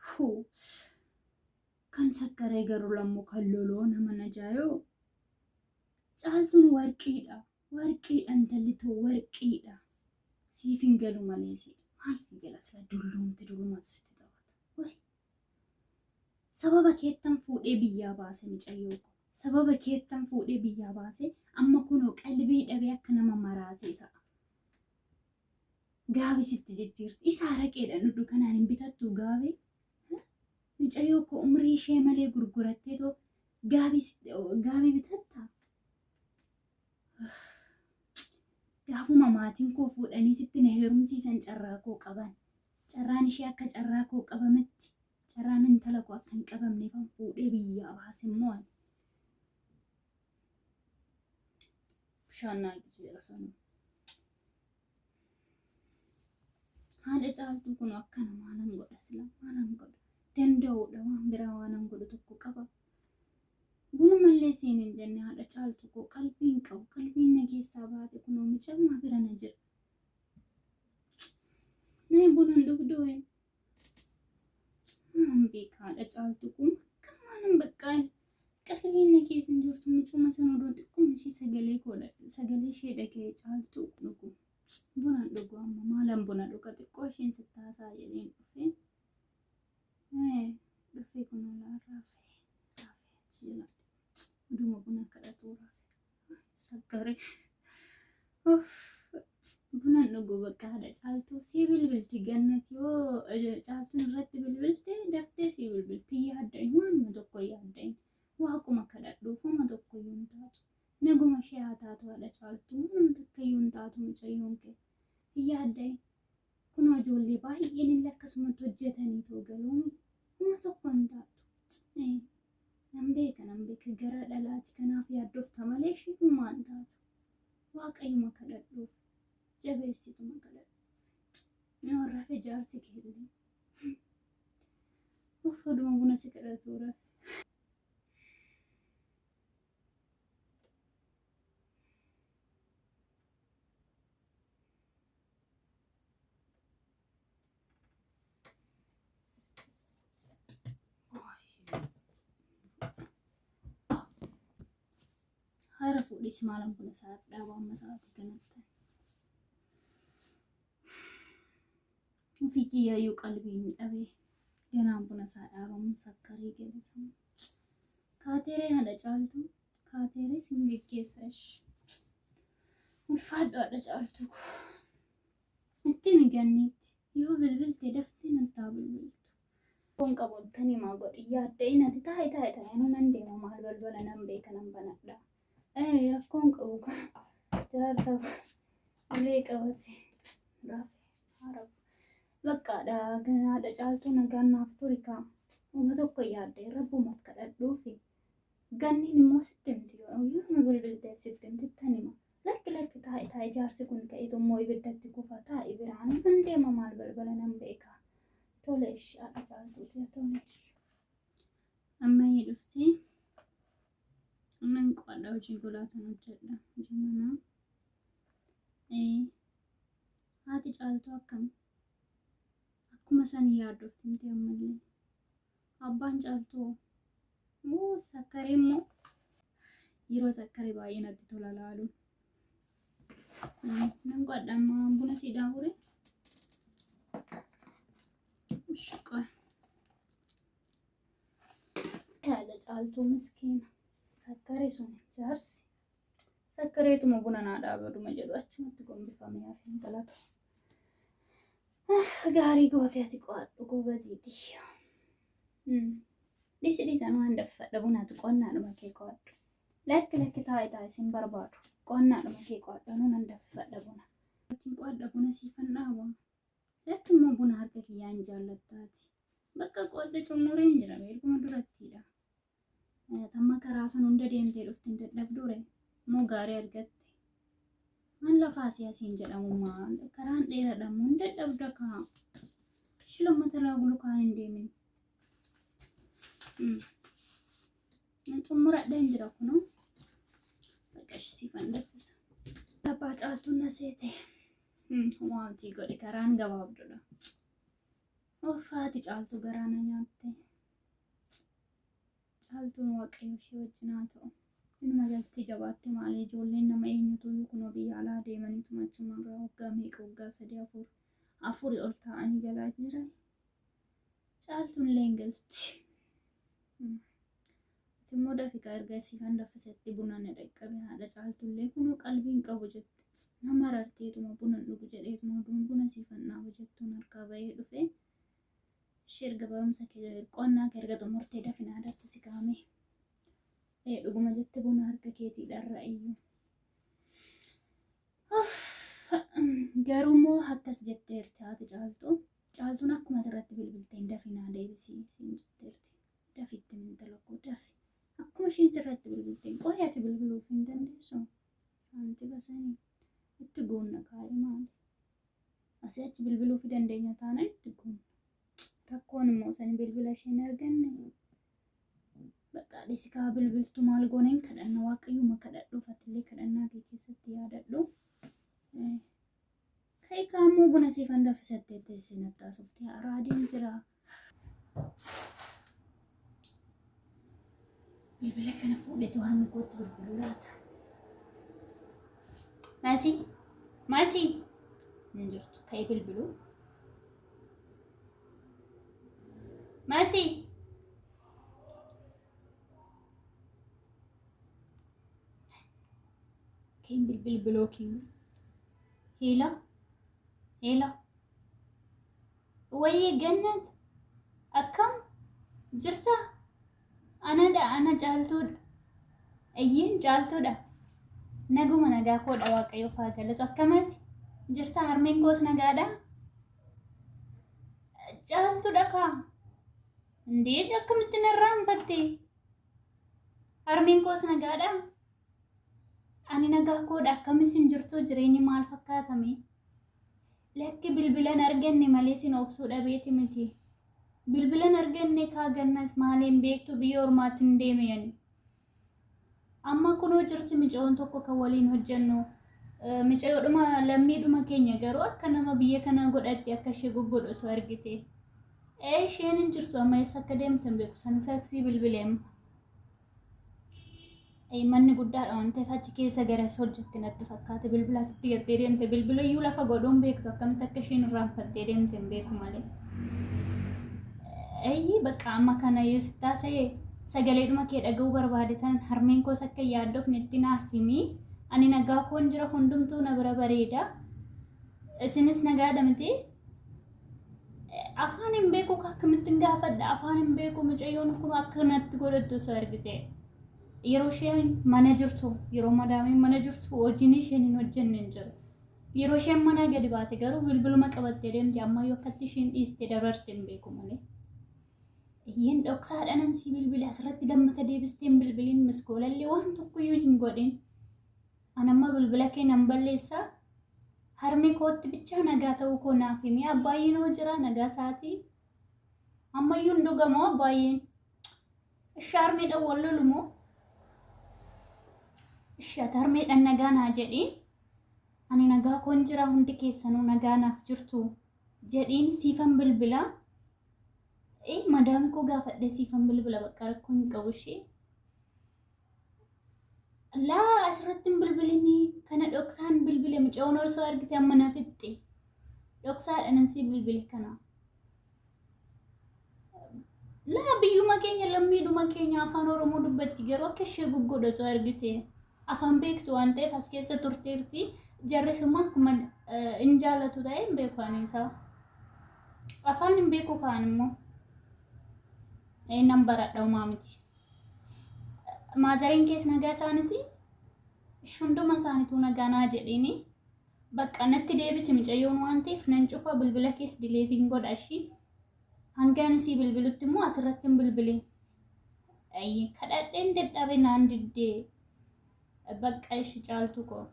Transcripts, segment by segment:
Fuu. Kan sakkaree garuu lammoo kan loloo nama najaayoo. Caaltuun warqiidha. Warqiidha intalli too warqiidha. Siif hin galu malee si. Maal si gala sila dulloomte dullumaatu sitti taphata. Wai. Sababa keettan fuudhee biyyaa baase micayyoo ko. Sababa keettan fuudhee biyyaa baase amma kunoo qalbii dhabee akka nama maraatee ta'a. Gaabi sitti jijjiirti. Isa araqeedhaan dhudhu kanaan hin bitattu gaabi. Mucayyoo koo umrii ishee malee gurgurattee too gaabi gaabi bitatta. Gaafuma maatiin koo fuudhanii sitti na heerumsiisan carraa koo qaban. Carraan ishee akka carraa koo qabametti carraan intala koo akka hin qabamneef an fuudhee biyyaa baase immoo ani. Bishaan naa jijjiira sanuu. haadha caaltuu kun akkana maalan godha sila maalan godha danda'uudha waan biraa waanan godhu tokko qaba bunumallee siin hin jenne haadha caaltuu koo qalbiin qabu qalbiin na keessaa baate kunoo mucammaa bira na jira mee bunan dhugdoore Maan beekaadha caaltu kun akka maanan baqqaa qalbiin keetiin jirtu mucuma san odoo xiqqoon ishii sagalee koodha sagalee ishee dhagee caaltu dhugu bunaan dhugu amma maalan buna dhuga xiqqoo isheen sitti haasaa jedheen dhufee dhufee kun olaa raafee raafee jira oduma buna kadhatuu raafee. Sakkari. Bunan dhuguu bakka haadha caaltuu sii bilbilti gannat yoo caaltuun irratti bilbilte daftee sii bilbilti yaadda hin waanuma tokko yaadda hin waaquma kadhadhuuf uma tokko yoo hin taatu naguma ishee haa taatu haadha caaltuu waanuma takka yoo hin taatu mucayyoon kee hin yaadda hin kunoo ijoollee baay'een illee akkasumatti hojjetanii too galooni uma tokko hin taatu Nan beeka nan beeka garaa dhalaati kanaaf yaaddofta malee ishii humaa hin taatu. Waaqayyuma kadhadhuuf jabeessituma kadhadhuuf. Yoo rafe jaarsi kee illee. Uff oduma buna si kadhatu rafe. Haara fuudhis maalan kun isaa dhaaba amma sa'aatii kanatti. Ofii kiyyaayuu qalbii hin dhabe. Ganaan kun isaa dhaabamuun sakkaree galisa. Kaateeree haadha caaltu. Kaateerees hin geggeessa ishi. Ulfaadhu haadha caaltu koo. Itti himi ganniitti. Yoo bilbilte daftee natti haa bilbiltu. Kun qabuun tani maa godhi yaadda inati taa'i taa'i taa'i anuu nan deema maal balbala nan beeka nan banadha. Ee rakkoon qabu jaarsa ulee qabate rafe haarafu. Baqqaadha ganaadha caaltuu nagaan naaf turi kaa. Uma tokko yaadde rabbumaaf kadhadhuufi. Ganniin immoo sitti himti yoo bilbilteef sitti himti tanima. Lakki lakki taa'i taa'i jaarsi kun ka'itu immoo ibiddatti kufa taa'i biraanuu nan deema maal balbala nan beeka. Tole ishi haadha caaltuuti haa tole ishi. Amma ni dhufti. Nan qo'adha hojii golaatan hojjedha hojii manaa. Ee haati caaltuu akkam akkuma san yaadoftimti ammallee. Abbaan caaltuu moo sakkaree immoo yeroo sakkaree baay'ee natti tola laaluun. Nan godha ammaa buna sii daawure. Shaqaa. Yaada caaltuu miskiina. Sakkaree sun jaarsi. Sakkareetuma buna naa dhaabaduma jedhu achumatti gombifamee hafeen galata. Gaarii gootee ati qo'adhu goobazii tiyya. Dhiisi dhiisan waan daffa dhabunaatu qo'annaadhuma kee qo'adhu. Lakki lakki taa'i taa'i sin barbaadu. Qo'annaadhuma kee qo'adhu anuu nan daffa dhabuna. Ittiin qo'adha buna siifan dhaaba. Lakki immoo buna harka kiyyaan jaallattaati. Bakka qo'adha xumureen jira beekuma durattiidha. Tamma karaa san hunda deemtee dhufti hin dadhabduure moo gaarii argatte? An lafaa si asiin jedhamu maa karaan dheeradha moo hin dadhabda kaa? Ishi lammata irraa bulu kaan hin deemin. Xumuradha hin jira kunoo. Bakka ishi siifan daffisa. Abbaa caaltuu na seete. Waanti godhe karaan gabaabdudha. Offaati caaltuu garaa na nyaatte. Caaltuun waaqayyo ishee wajjin haa ta'u. Inuma galtee jabaatte maalee ijoolleen nama eenyutuyyuu kunoo biyya alaa deemanii tumachuma irraa waggaa meeqa waggaa sadii afur afuri ol taa'anii galaa jiran. Caaltuun illee hin galti. Immoo dafiqaa erga siifan daffisetti buna na dhaqqabe haadha caaltuu illee kunoo qalbii hin qabu jette. Nama rarteetuma buna dhugu jedheetuma oduun buna siifan dhaaba jettuun harkaa bahee dhufee. Ishii erga barumsa kee qonnaa kee erga xumurtee dafinaa irratti si kaa'ame. Ee dhuguma jette buna harka keetii dharra iyyu. Garuu immoo akkas jetteerti haati caaltu. Caaltuun akkuma asirratti bilbilteen dafinaa deebisii siin jetteerti. Dafitti mintala koo dafi. Akkuma ishiin sirratti bilbilteen qorii ati bilbiluuf hin dandeessu. Saantiba sanii itti guunna kaa'ee maali. Asii achi bilbiluufi dandeenya taanaan itti goona. Rakkoon immoo sani bilbila ishee hin arganne. Bakka dhisi kaa bilbiltu maal goona hin kadhanna waaqayyuma kadhadhuuf atillee kadhannaa kee keessatti yaadadhu. Ka'e kaammoo buna siifan daffisattee teessee nattaasofte haraa adeem jira. Bilbila kana fuudhetu harmi kootti bilbiluu laata. Maasii maasii hin jirtu ka'ee bilbiluu. Maasii keen bilbil bilookiin hiila hiila. Wayyee gannat akkam jirta? Anadha ana caaltuudha. Ayyiin caaltuudha. Naguma nagaa koodha waaqayyo faa galatu akkamati jirta harmeen koos nagaadha. Caaltuudha kaa. Indee akkamitti narraa hinfatte? Harmeen koos nagaadha. Ani nagaa koodha akkamis hin jirtu jireenyi maal fakkaatame? Lakki bilbilan arganne malee sin obsuu dhabeeti miti. Bilbilan arganne kaa gannas maaleen beektu biyya ormaatti hin deeme yani. Amma kunoo jirti micayoon tokko kan waliin hojjennu. Micayoodhuma lammiidhuma keenya garuu akka nama biyya kanaa godhatti akka ishee goggodhu osoo argite. Ee isheen hin jirtu amma eessa akka deemte hin beeku san tasfii bilbileemma. manni guddaadha waan ta'eef achi keessa garas hojjette natti fakkaate bilbila asitti gattee deemte bilbila iyyuu lafa godhuun beektu akkamitti akka isheen irraanfattee deemte hin beeku malee. Eeyyii bakka amma kana yoo sitti haasa'e sagaleedhuma kee dhaga'uu barbaade tanan harmeen koos akka yaaddofne itti naaf himi ani nagaa koon jira hundumtuu na bira bareeda isinis nagaadha miti afaan hin beeku ka akkamittiin gaafadha afaan hin beeku mucayyoon kun akkanatti godhattu osoo argite yeroo isheen mana jirtu yeroo madaamiin mana jirtu hojiin isheen hin hojjenne hin jiru yeroo isheen manaa gadi baate garuu bilbiluma qabattee deemti ammayyuu akkatti isheen dhiiste dabarte hin beeku malee Iyyeen dhoksaadhaan si bilbile asirratti lammata deebisteen bilbiliin miskoolallee waan tokkoyyuu hin godhin. An amma bilbila kee nan balleessa. Harmee kootti bichaa nagaa ta'uu koo naaf himi. Abbaayyiin hoo jira nagaa isaatii. Ammayyuu hin dhugamoo abbaayyiin. Ishi harmeedhaan wal lolu moo? Ishi ati harmeedhaan nagaa naa jedhii. Ani nagaa koon jira hundi keessanuu nagaa naaf jirtu. Jedhiin siifan bilbila. Ee madaami koo gaafadhee siifan bilbila bakka rakkoo hin qabu ishee. Laa asirratti hin bilbilinii kana dhoksaan bilbile muca'oon osoo argite amma na fixxe dhoksaadhaan ansii bilbile kana. Laa biyyuma keenya lammiidhuma keenya afaan Oromoo dubbatti garuu akka ishee gugguudha osoo argite afaan beektu waan ta'eef as keessa turteerti jarris immoo akkuma hin jaalatu ta'e hin beeku ani isaa. Afaan hin beeku kaan immoo. Ee nan baradha umaa miti. Maazariin kees nagaa isaaniti shunduma isaanituu nagaa naa jedhini bakka natti deebiti mucayyoon waan ta'eef nan cufa bilbila kees dileetiin godha ishii hangaan isii bilbilutti immoo asirratti hin bilbilin kadhadheen dadhabe naan diddee Bakka ishi caaltu koo.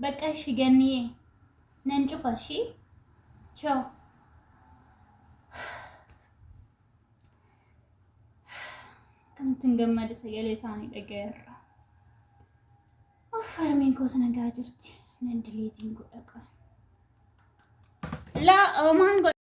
Bakka ishi ganniyee. Nan cufa ishii. Choo. Kanatti hin gammade sagalee isaanii dhagayeerra. Of harmeen koos nagaa jirti. Nan dileetiin godha qaba. Laa oomaan godha.